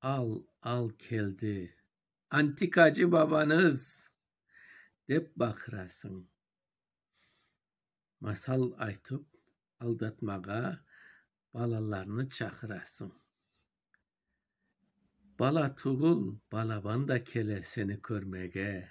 Al, al keldi, antikacı babanız! dep baqırasıñ. Masal aytıp aldatmağa balalarnı çaqırasıñ. Bala tugul, balaban da kele seni körmege,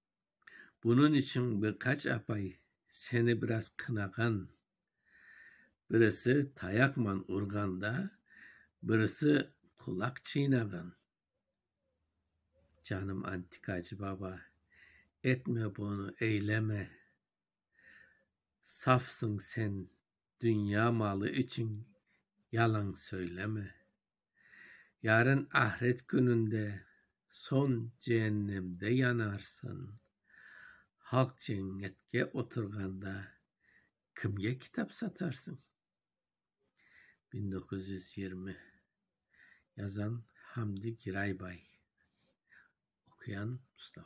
Bunıñ içün bir qaç apay seni biraz qınağan, birisi tayaqman urğan da, birisi qulaq çıynağan. Canım antikacı baba, etme bunı, eyleme. Safsıñ sen, dünya malı içün yalan söyleme. Yarın ahiret kününde soñ cehennemde yanarsıñ. Halq cennetke oturğanda kimge kitap satarsıñ? Biñ doquz yüz yirmi Yazan, Hamdi Giraybay Oquyan, Mustafa.